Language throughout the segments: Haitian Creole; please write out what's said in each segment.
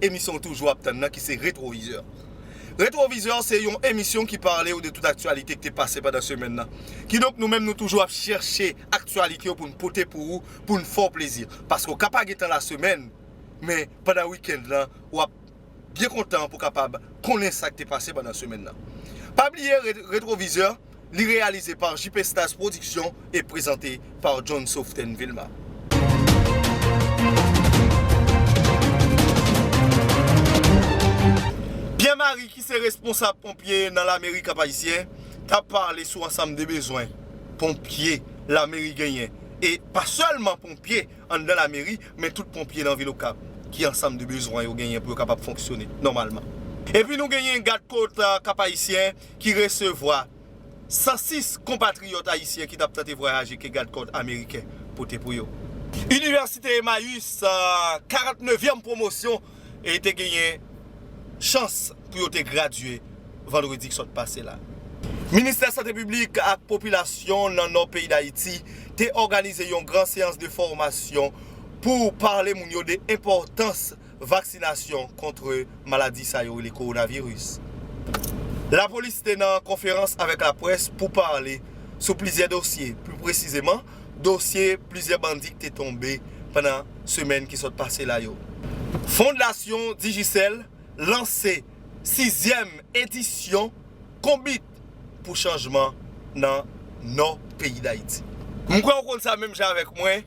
Emisyon ou toujou ap tann nan ki se Retwovizè. Retwovizè se yon emisyon ki pale ou de tout aktyalite ki te pase pandan semèn nan. Kidonk nou menm nou toujou ap chèche aktyalite yo pou n pote pou ou, pou n fè w plezi. Paske ou ka pa gen tan lasemèn, men pandan wikend lan w ap byen kontan pou w kapab konnen sa k te pase pandan semèn nan. Pa bliye Retwovizè Li reyalize par JP Stars Production e prezante par John Soften Vilma. Pierre Marie ki se responsab ponpye nan lameri Kap Ayisyen ta pale sou ansanm de bezwen ponpye lameri genyen e pa sèlman ponpye anndan lameri men tout ponpye nan vil Okap ki ansanm de bezwen yo genyen pou yo kapab fonksyone nòmalman. Epi nou genyen gad kot Kap Ayisyen ki resevwa 106 konpatriyòt ayisyen ki t ap tante vwayaje ke gadkò ameriken pote pou yo. Inivèsite Emmaüs, 49 vyèm pwomosyon e te genyen chans pou yo te gradye vandredi k sot pase la. Ministè Sante Piblik ak Popilasyon nan Nò peyi Dayiti te òganize yon gran seyans de fòmasyon pou pale moun yo de enpòtans vaksinasyon kontre maladi sa yo rele kowonaviris. Lapolis te nan konferans avèk laprès pou pale sou plizyè dosye, pi presizeman dosye plizyè bandi k te tonbe pandan semèn ki sot pase la yo. Fondasyon Digicel lanse sizyèm edisyon Konbit pou chanjman nan Nò peyi Dayiti. M kwè ou konn sa menm jan avèk mwen.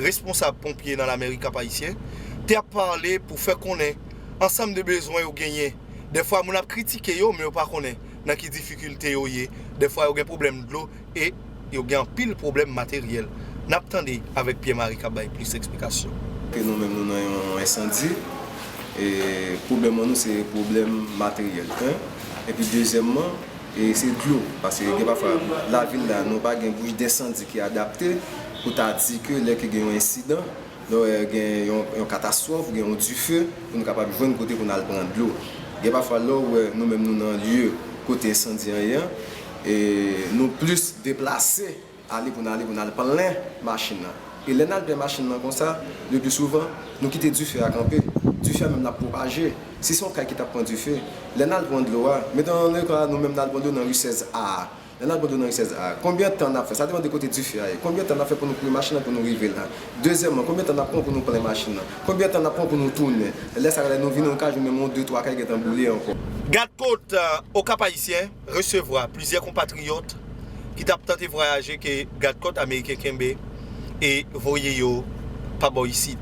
responsab ponpye nan Lamerik Kap Ayisyen, te ap pale pou fè konnen ansanm de bezwen yo genyen. Dèfwa moun ap kritike yo men yo pa konnen nan ki difikilte yo ye, dèfwa yo gen pwoblèm dlo e yo gen anpil pwoblèm materyèl. N ap tande avèk Pierre Marie k ap bay plis eksplikasyon. Ke nou menm nou nan yon ensandi e pwoblèm an nou se pwoblèm materyèl 1 epi dezyèmman e se dlo paske gen pafwa lavil la nou pa gen bouch densandi ki adapte. Pou ta di ke lè ke gen yon ensidan, lò gen yon katastwòf, gen yon dife, pou nou kapab jwenn kote pou nou al pran dlo. Gen pafwa lè ou wè nou menm nou nan lye kote ensandi an ye an, nou plis deplase ale pou nou ale pou nou al plen machin nan. E lè nou al plen machin nan konsa, le pli souvan, nou kite dife a kanpe. Dife a menm l ap pwopaje. Si se yon kay ki t ap pran dife, lè nou al pran dlo a, meton nou ka nou menm nou al pran dlo nan ri 16 A a, Lè nap gade yon risyèz a, konbyen tan nap fè, sa depan de kote dife a ye, konbyen tan nap fè pou nou kouri machin nan pou nou rive la. Dezyèmman, konbyen tan nap pran pou nou plen machin nan, konbyen tan nap pran pou nou tounen. Lè sa yo lè nou vini nou ka jwenn menm yon de twa kay gentan boule ankò. Gad kot Okap Ayisyen resevwa plizyè konpatriyòt ki tap tante vwayaje ke gad kòt ameriken kenbe e voye yo pa bò isit.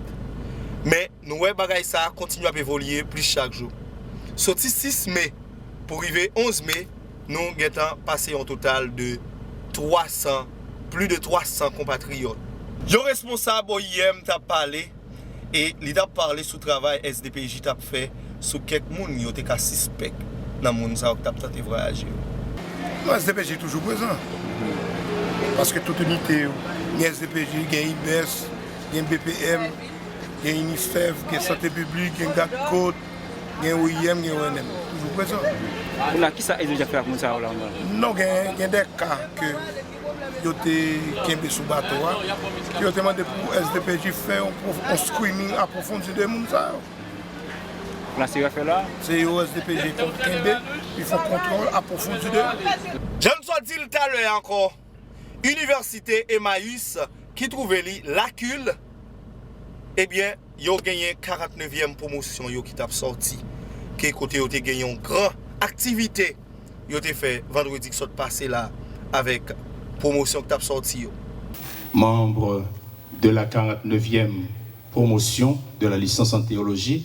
Men nou wè bagay sa kontinye ap evolye plis chak jou. Soti 6 me pou rive 11 me, Nou gentan pase yon total de 300, pli de 300 konpatriyòt. Yon responsab oim t ap pale e li t ap pale sou travay SDPJ t ap fè sou kèk moun yo te ka sispèk nan moun sa yo ki t ap tante vwayaje yo. Non SDPJ toujou prezan, paske tout inite yo, gen SDPJ, gen IBES, gen BPM, gen UNISTEF, gen Sante Piblik, gen Gad Kot. gen OIM, gen ONM toujou prezan. Pou la kisa ezijan fè ak moun sa yo la an Brazil? Non gen de ka ke yo te kenbe sou bato a, ke yo te mande pou SDPJ fè yon screening apwofondi de moun sa yo. Pou la se yo a fè la? Se yo SDPJ konn kenbe, li fè kontwòl apwofondi de yo. Jan m sot di l talè ankò. Inivèsite Emmaüs ki twouve li Lakil, ebyen yo genyen 40 nevyèm pwomosyon yo ki tap sòti ke kote yo te gen yon gran aktivite yo te fè vandredi ki sot pase la avèk pwomosyon ki tap sòti yo. Manb de la 40 nevyèm pwomosyon de la lisans an teyoloji.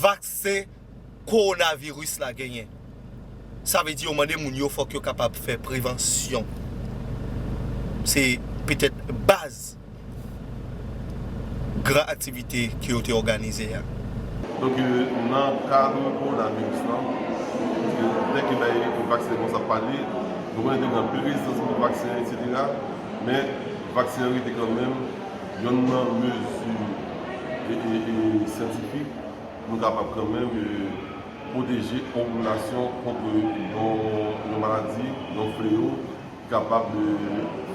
vaksen kowonaviris la genyen. Sa vle di yo mande moun yo fòk yo kapab fè prevansyon. Se petèt baz gran aktivite ke yo te òganize a. Donk nan kad kowonaviris lan, paske lè ke bay vaksen kòmanse ap pale, nou konnen te gen anpil rezistans kont vaksen eksetera, men vaksen an rete kanmenm Yonn nan mezi syantifik nou kapab kanmenm pwoteje yon popilasyon kont yon maladi, yon fleyo ki kapab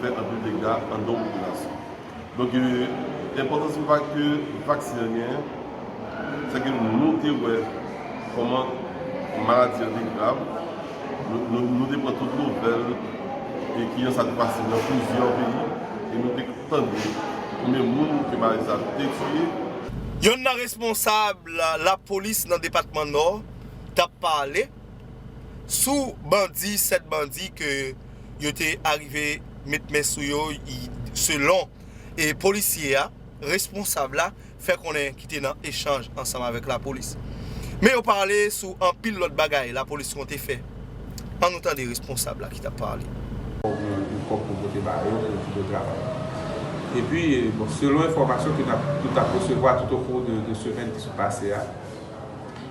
fè anpil dega anndan yon popilasyon. Donk enpòtans ki pa ke vaksen an genyen, se ke nou te wè kòman maladi an te grav, nou te pran tout nouvèl ki jan sa te pase nan plizyè peyi. Tande konbyen moun ke Marisa te tiye. Yonn nan responsab lapolis nan depatman Nò tap pale sou bandi 7 bandi ke yo te arive met men sou yo selon polisye a responsab la. fè konnen ki te nan echanj ansanm avèk lapolis. Men yo pale sou anpil lòt bagay lapolis konte fè. An nou tande responsab la ki t ap pale. Fòk gen anpil kòb pou pote ba yo pou kite travay. Epi, bon, selon enfòmasyon ke n ap, ke n t ap resevwa toutokou de semèn ki sot pase a,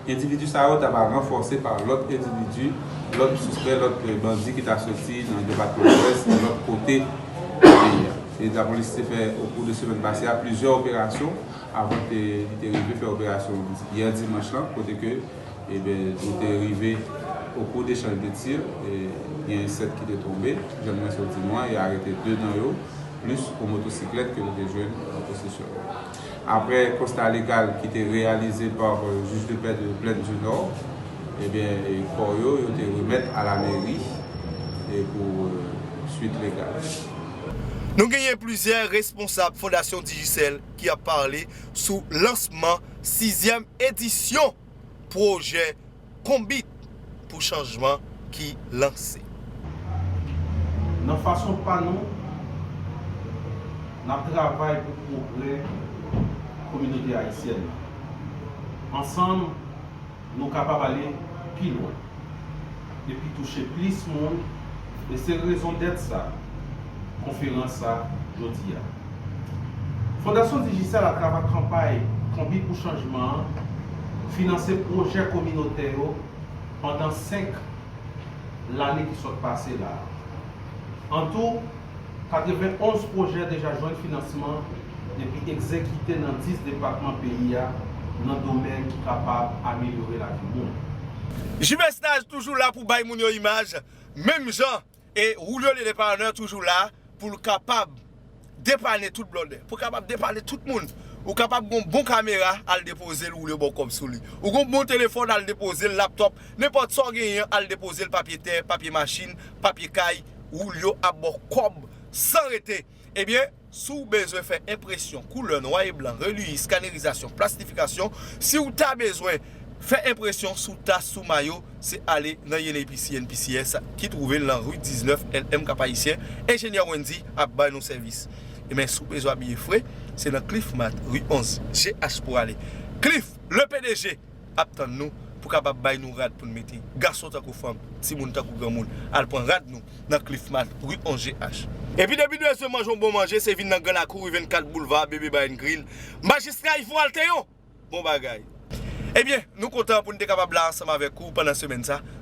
Endividi sa yo ta va ranfòse pa lòt endividi, lòt sispè, lòt bandi ki ta soti nan depatman Lwès, nan lòt kote nan peyi a. E lapolis te fè okou 2 semèn pase a plizyè operasyon avan ke li te rive fè operasyon yè dimanch lan kote ke nou te rive okou dechanj de tir gen 7 ki te tonbe jan mwen sot di nou an e arete 2 nan yo plis yon motosiklèt ke nou te jwenn nan posesyon yo. Aprè konsta legal ki te reyalize pa Juge de Paix de Plaine du Nord, ebyen kò yo, yo te remèt a la Mairie pou suite legale. Nou genyen plizyè responsab Fondasyon Digicel ki ap pale sou lansman 6 zièm edisyon. pwojè Konbit pou chanjman ki lanse. Nan fason pa nou, n ap travay pou pwogrè kominote ayisyèn nan. Ansanm, nou kapab ale pi lwen. epi touche plis moun e se rezondèt sa konferans sa jodi a. Fondasyon Digicel atravè kanpay Konbit pou Chanjman an finanse pwojè kominotè yo pandan 5 lane ki sot pase la a. Antou. 91 pwojè deja jwenn finansman epi egzekite nan 10 depatman peyi a nan domèn ki kapab amelyore lavi moun. Jmesnaj toujou la pou bay moun yo imaj menm jan e Julio le Depanneur toujou la pou l kapab depanne tout blòdè, pou l kapab depanne tout moun. Ou kapab gen yon bon kamera al depoze l Julio ba w kòb sou li. Ou gen yon bon telefòn al depoze l, laptop, Nenpòt sa w genyen al depoze l papye tè, papye machin, papye kay, woul yo ap ba w kòb san rete. Ebyen, si w bezwen fè enpresyon, koulè, nwa e blan, reliyi, skanerizasyon, plastifikasyon, si w ta bezwen fè enpresyon sou tas, sou mayo, se ale nan YENEYPC, YNPCS, ki twouve l nan ri 19, LM, Kapayisyen, Enjenyè Wendy ap bay nou sèvis. Ebyen, si w bezwen abiye fre, se nan Cliff Mart, ri 11, GH pou w ale. Cliff, le pdg! ap tann nou pou kapab bay nou rad pou n mete. Gason tankou fanm, timoun tankou granmoun al pran rad nou nan Cliff Mart, ri 11 GH. Epi depi nou bezwen manje yon bon manje se vin nan Gran Lakou, ri 24 Boulva Bebe Brian Grill, Majistra Yvon Altéon! Bon bagay! Ebyen, nou kontan pou n te kapab la ansanm avèk ou pandan semèn sa.